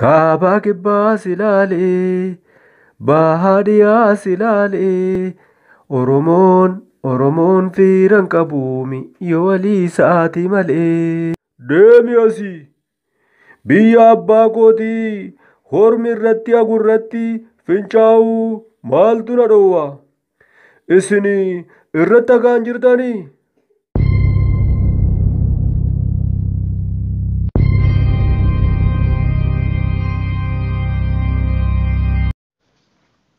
Kaabaa kibbaas ilaali, bahaa dhiyaas ilaali. Oromoon Oromoon fiiran qabuumi yoo walii isaati malee. Deemi asii! Biyya abbaa kootii hormi irratti agurratti fincaa'uu maaltu na dhowwa? Isin irratti dhagaan jirtanii?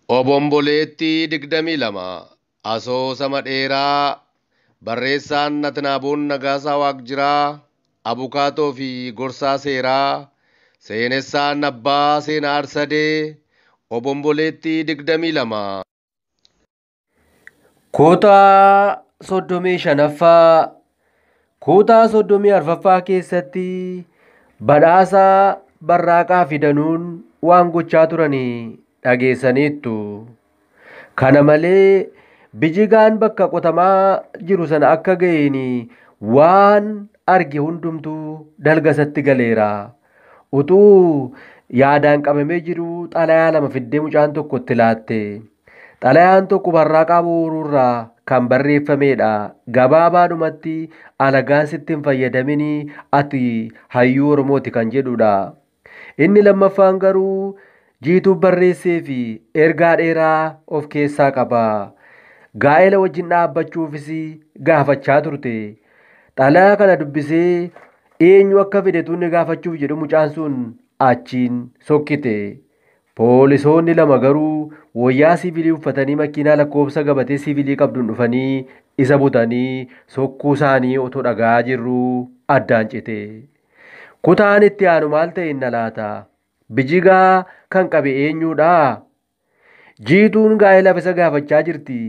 Obomboleettii 22 Asoosama dheeraa Barreessaan Natnaaboon Nagaasaa Waaqjiraa Abukaatoo fi Gorsaa Seeraa Seenessaan Abbaa Seenaa Arsadee Obomboleettii 22 Kutaa soddomii shanaffaa Kutaa soddomii arfaffaa keessatti badhaasa barraaqaa fi danuun waan gochaa turanii dhageessaniittu. Kana malee bijigaan bakka qotamaa jiru sana akka ga'een waan arge hundumtuu dalga isatti galeera. Utuu yaadaan qabamee jiruu xalayaa lama fiddee mucaan tokko itti laatte. Xalayaan tokko barraaqaa booruurraa kan barreeffameedha. Gabaabaadhumatti alagaan sitti hin fayyadaminii ati hayyuu Oromooti kan jedhudha. Inni lammaffaan garuu jiituuf barreessee fi ergaa dheeraa of keessaa qaba. Gaa'ela wajjin dhaabbachuufis gaafachaa turte. Xalayaa kana dubbisee Eenyu akka fide tunni gaafachuuf jedhu mucaan sun achiin sokkite. Poolisoonni lama garuu wayyaa siivilii uffatanii makiinaa lakkoofsa gabatee siivilii qabduun dhufanii isa butanii sokkuu isaanii otoo dhaga'aa jirruu addaan cite. Kutaan itti aanu maal ta'e inna laata? Bijigaa kan qabe eenyuudhaa? Jiituun gaa'elaaf isa gaafachaa jirti.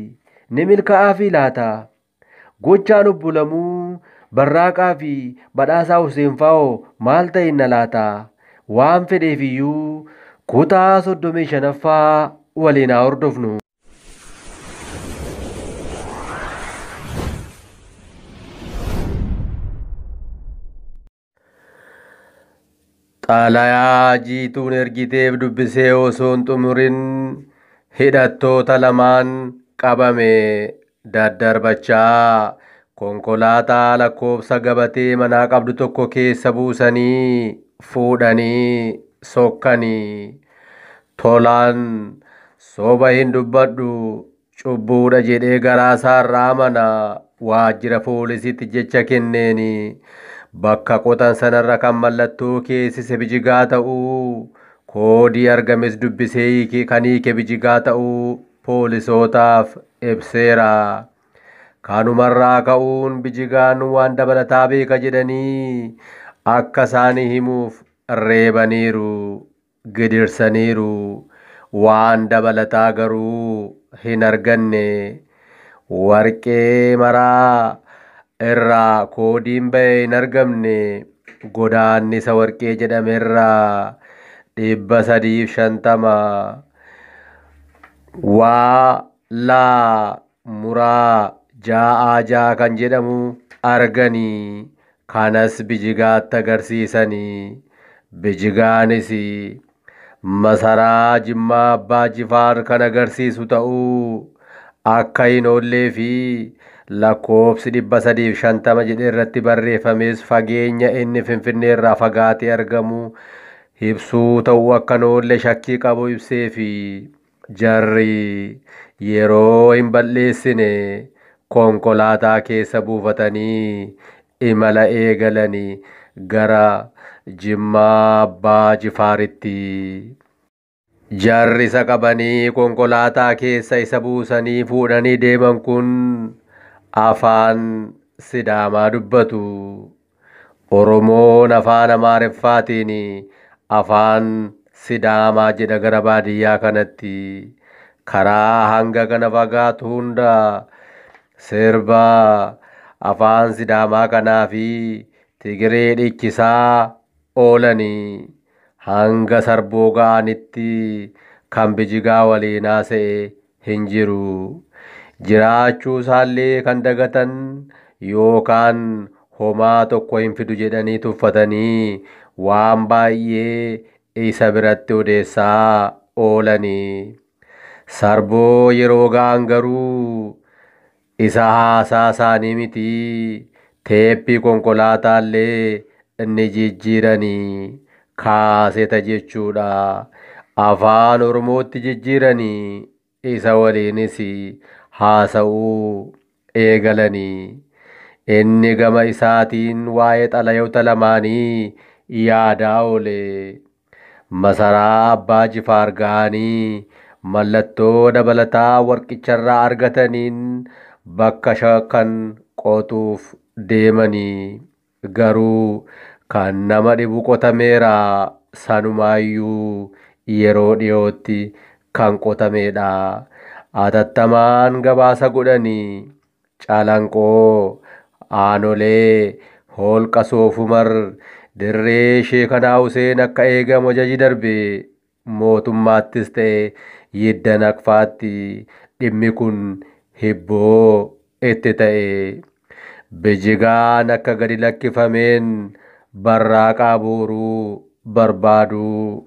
Ni milkaa'aa fi laata? Gochaan obbo Lamuu Barraaqaa fi Badhaasaa Huseen Faa'oo maal ta'inna laata? Waan fedheefiyyuu kutaa 35ffaa waliin haa hordofnu. Xaalayaa jiituun ergiteef dubbisee osoo hin xumurin hidhattoota lamaan qabame daddarbachaa konkolaataa lakkoofsa gabatee manaa qabdu tokko keessa buusanii fuudhanii sokkanii. Tolaan soba hin dubbadhu Cubbuudha jedhee garaasaarraa amana waajjira poolisiitti jecha kenneeni. Bakka qotan sanarra kan mallattoo keessise bijigaa ta'uu, koodii argames dubbisee hiike kan hiike bijigaa ta'uu poolisootaaf ibseera. Kanumarraa ka'uun bijigaan waan dabalataa beeka jedhanii akka isaanii himuuf reebaniiru. gidirsaniiru. Waan dabalataa garuu hin arganne. Warqee maraa irraa koodiin ba'e hin argamne. Godaannisa warqee jedhame irraa 350 waa laa muraa jaa'aa ja'a kan jedhamu argani. Kanas Bijigaatti agarsiisani. Bijigaanis masaraa Jimmaa Abbaa Jifaar kan agarsiisu ta'uu akka hin oollee fi lakkoofsi 350 jedhee irratti barreeffames fageenya inni Finfinnee irraa fagaatee argamu ibsuu ta'uu akka hin oolle shakkii qabu ibseefi. Jarri yeroo hin bal'eessine konkolaataa keessa buufatanii imala eegalani gara Jimmaa Abbaa Jifaaritti. Jarri isa qabanii konkolaataa keessa isa buusanii fuudhanii deeman kun afaan Sidaamaa dubbatu. Oromoon afaan Amaariffaatiin afaan Sidaamaa jedha gara baadiyyaa kanatti. Karaa hanga kana fagaatu hunda sirba afaan Sidaamaa kanaafi Tigiree dhiichisaa oolani. Hanga Sarboo ga'anitti kan Bijigaa waliin haasa'e hin jiru. Jiraachuu isaallee kan dagatan yookaan homaa tokko hin fidu jedhanii tuffatanii waan baay'ee isa biratti odeessaa oolani. Sarboo yeroo ga'an garuu Isa haasaa isaanii miti, teeppii konkolaataallee ni jijjiirani. Kaaseta jechuudha. Afaan Oromootti jijjiirani. Isa waliinis haasa'uu eegalani. Inni gama isaatiin waa'ee xalayoota lamaanii yaadaa oole. Masaraa Abbaa Jifaar gahanii mallattoo dabalataa warqicharraa argataniin bakka shakkan qotuuf deemani. Garuu kan nama dhibu qotameera, sanumaayyuu yeroo dhiyootti kan qotameedha. Atattamaan gabaasa godhani. Calanqoo, Aanolee, Hoolqa Soofumar, Dirree Sheekanaa Huseen akka eegamu ajaji darbe. Mootummaattis ta'e Yidda Naqfaatti dhimmi kun hibboo itti ta'e. Bijigaan akka gadi lakkifameen Barraaqaa Booruu barbaaduu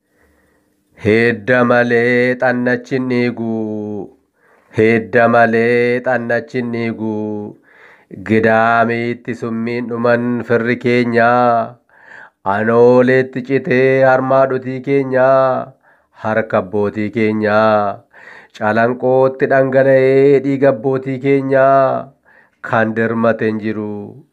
Hidda malee xannachi hin dhiigu. Hidda malee xannachi hin dhiigu. Gidaamiitti summiin dhuman firri keenya. Anooleetti citee harmaa dhutii keenya. Harka abbootii keenya. Calanqootti dhangala'ee dhiiga abbootii keenya. Kan dirmate hin jiru.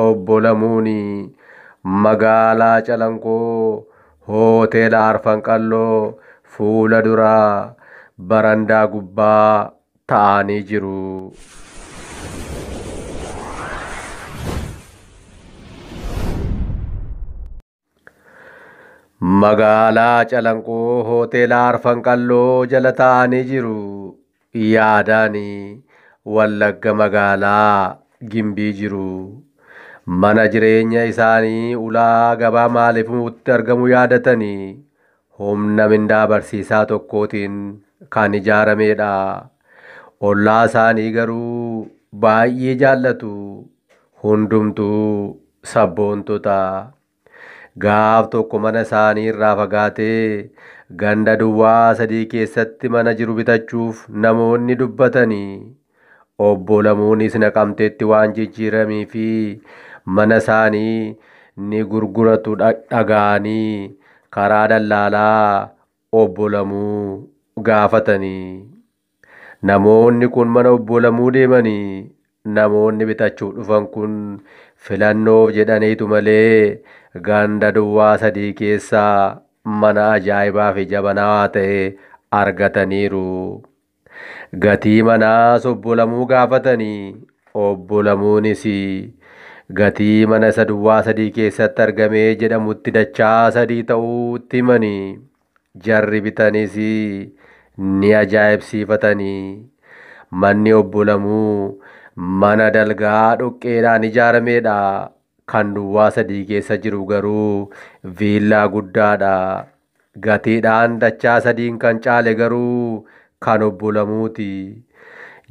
Obbo Lamuun magaalaa Calanqoo Hoteela Arfan Qalloo fuula dura barandaa gubbaa ta'aanii jiru. Magaalaa Calanqoo Hoteela Arfan Qalloo jala taa'anii jiru. Yaadaani Wallagga magaalaa Gimbii jiru. Mana jireenya isaanii ulaa gabaa maaliif itti argamu yaadatanii humna mindaa barsiisaa tokkootiin kan ijaarameedha. Ollaa isaanii garuu baay'ee jaallatu. Hundumtuu sabboontota. Gaaf tokko mana isaanii irraa fagaatee ganda duwwaa sadii keessatti mana jiru bitachuuf namoonni dubbatanii Obbo Lamuunis Naqamteetti waan jijjiiramii fi mana isaanii ni gurguratu dhaga'anii karaa dallaalaa Obbo Lamuu gaafatanii namoonni kun mana Obbo Lamuu deemanii namoonni bitachuuf dhufan kun filannoof jedhaniitu malee ganda duwwaa sadii keessaa mana ajaa'ibaa fi jabanaawaa ta'e argataniiru. Gatii manaas Obbo Lamuu gaafatanii Obbo Lamuunis gatii mana isa duwwaa sadii keessatti argame jedhamutti dachaa sadii ta'uu itti himanii jarri bitanis ni ajaa'ibsiifatanii manni Obbo Lamuu mana dalgaa dhoqqeedhaan ijaaramedha Kan duwwaa sadii keessa jiru garuu viillaa guddaadha. Gatiidhaan dachaa sadiin kan caale garuu kan Obbo Lamuuti.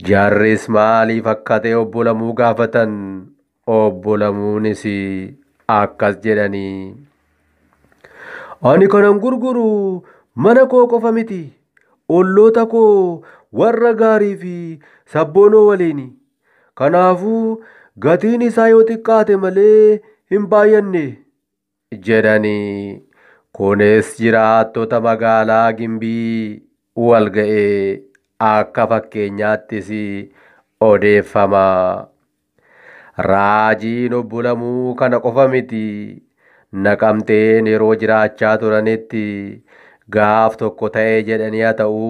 Jarris maaliif akka ta'e Obbo Lamuu gaafatan. Obbo Lamuunis akkas jedhani. Ani kanan gurguru mana koo qofa miti. Olloota koo warra gaarii fi sabboonoo waliini. Kanaafuu gatiin isaa yoo xiqqaate malee hin baay'anne. jedhani. Kunis jiraattota magaalaa Gimbii walga'e akka fakkeenyaattis odeeffama. Raajiin obbo Lamuu kana qofa miti. Naqamteen yeroo jiraachaa turanitti gaaf tokko ta'e jedhanii haa ta'u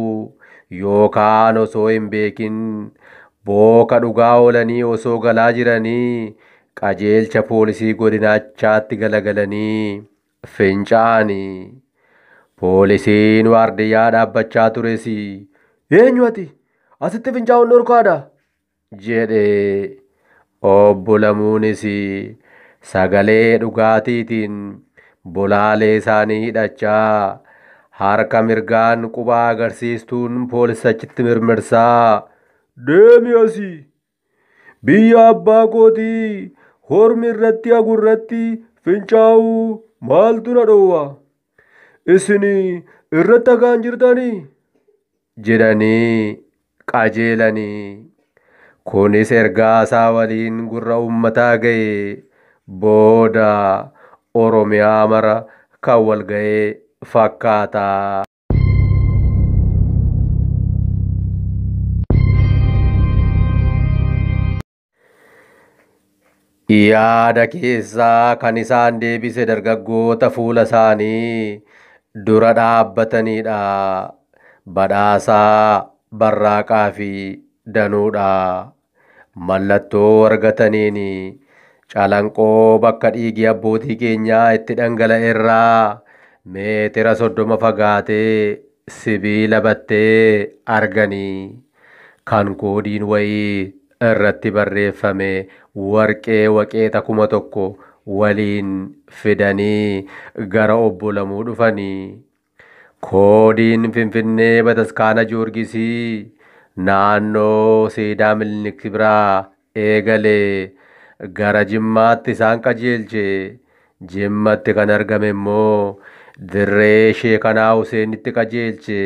yookaan osoo hin beekin booka dhugaa oolanii osoo galaa jiranii qajeelcha poolisii godinaachaatti galagalanii finca'ani. Poolisiin waardiyyaa dhaabbachaa tures eenyu ati asitti fincaa'uun dhorkaadha jedhe. Obbo Lamuunis sagalee dhugaatiitiin bolaalee isaanii hidhachaa harka mirgaan quba agarsiistuun poolisachitti mirmirsaa Deemi asii! Biyya abbaa kootii hormi irratti hagu irratti fincaa'uu maaltu na dhoowwa? Isin irratti hagaan jirtanii? jedhanii qajeelani. Kunis ergaa isaa waliin gurra ummataa ga'e booda Oromiyaa mara kan wal ga'e fakkaata. Yaada keessaa kan isaan deebise dargaggoota fuula isaanii dura dhaabbataniidha. Badhaasaa, Barraaqaa fi Danuudha. Mallattoo argataniin calanqoo bakka dhiigi abbootii keenyaa itti dhangala'e irraa meetira soddoma fagaatee sibiila battee arganii. kan koodiin wayii irratti barreeffame warqee waqeexa kuma tokko waliin fidanii gara obbo Lamuu dhufanii koodiin Finfinnee Bataskaana Joorgisii naannoo Seedaa Milinik biraa eegale gara Jimmaatti isaan qajeelche. Jimmatti kan argame immoo dirree Sheekanaa Huseenitti qajeelche.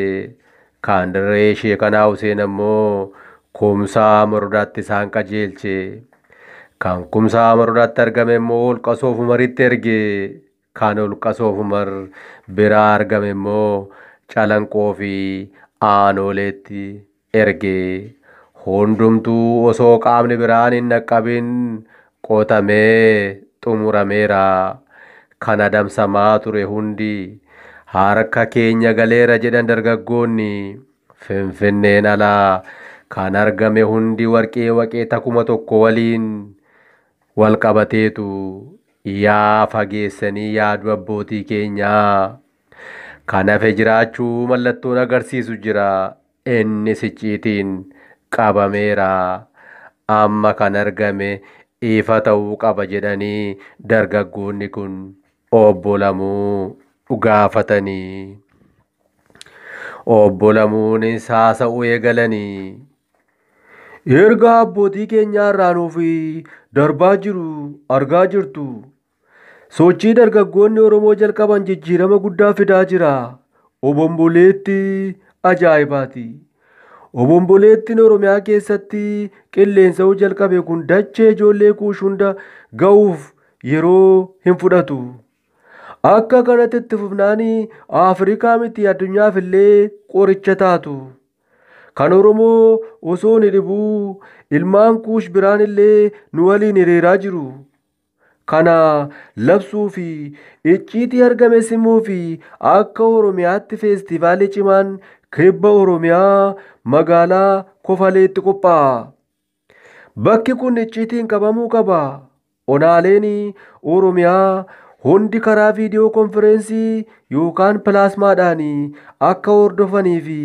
Kan dirree Sheekanaa Huseen ammoo Kumsaa Morodaatti isaan qajeelche. Kan Kumsaa Morodaatti argame immoo Holqa Soofumaritti erge. Kan Holqa Soof Umar biraa argame immoo Calanqoo fi Aanooleetti erge. Hundumtuu osoo qaamni biraan hin dhaqqabin qotamee xumurameera. Kan adamsamaa ture hundi harka keenya galeera jedhan dargaggoonni. Finfinneen ala kan argame hundi warqee waqeeta kuma tokko waliin wal qabateetu Yaa fageessanii yaaduu abbootii keenyaa. Kan hafe jiraachuu mallattoon agarsiisu jira. Innis icciitiin qabameera. Amma kan argame ifa ta'uu qaba jedhanii dargaggoonni kun obbo Lamuu gaafatanii. Obbo Lamuunis haasa'uu eegalanii. Ergaa abbootii keenyaa irraa nuuf darbaa jiru argaa jirtu. Sochii dargaggoonni Oromoo jalqaban jijjiirama guddaa fidaa jira. Obomboleetti ajaa'ibaati. Obomboleettiin Oromiyaa keessatti qilleensa'uu jalqabe kun dachee ijoollee kuush hunda ga'uuf yeroo hin fudhatu. Akka kanatti itti fufnaan Afrikaa miti addunyaaf illee qoricha taatu. Kan Oromoo osoo ni dhibuu ilmaan kuush biraan illee nu waliin hiriiraa jiru. Kana labsuu fi icciitii argame simuu fi akka Oromiyaatti feestivaalii cimaan kibba Oromiyaa magaalaa Kofaleetti qophaa'a. Bakki kun icciitiin qabamuu qaba. Onaaleen Oromiyaa hundi karaa viidiyoo konfireensii yookaan pilaasmaadhaan akka hordofanii fi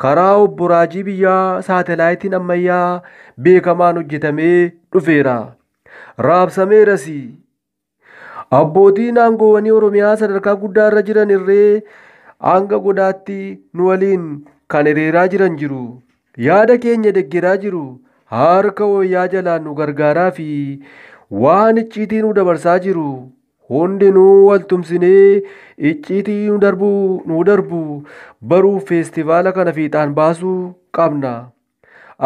karaa obbo Raajii Biyyaa saatelaayitiin ammayyaa beekamaan hojjetamee dhufeera. Raabsameeras. Abbootiin aangoowwanii Oromiyaa sadarkaa guddaa irra jiran irree hanga godaatti nu waliin kan hiriiraa jiran jiru. Yaada keenya deggeraa jiru. Harka wayyaa jalaan nu gargaaraa fi waan icciitii nu dabarsaa jiru. Hundinuu wal tumsinee icciitii nu darbu nu darbu baruuf feestivaala kana fiixaan baasuu qabna.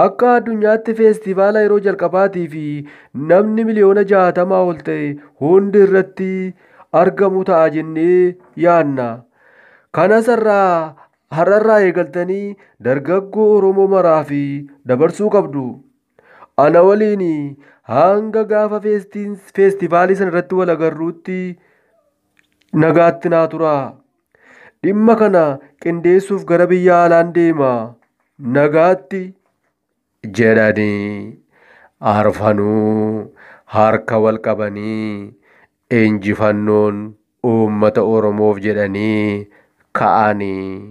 Akka addunyaatti feestivaala yeroo jalqabaatii fi namni miliyoona jaatamaa ol ta'e hundi irratti argamu ta'a jennee yaadna. Kanas irraa har'arraa eegaltanii dargaggoo Oromoo maraa fi dabarsuu qabdu. Ana waliin hanga gaafa feestiin- feestivaalii sana irratti wal agarruutti nagaatti naa turaa. Dhimma kana qindeessuuf gara biyya alaan deema. Nagaatti jedhanii arfanuu harka wal qabanii injifannoon uummata Oromoof jedhanii ka'anii.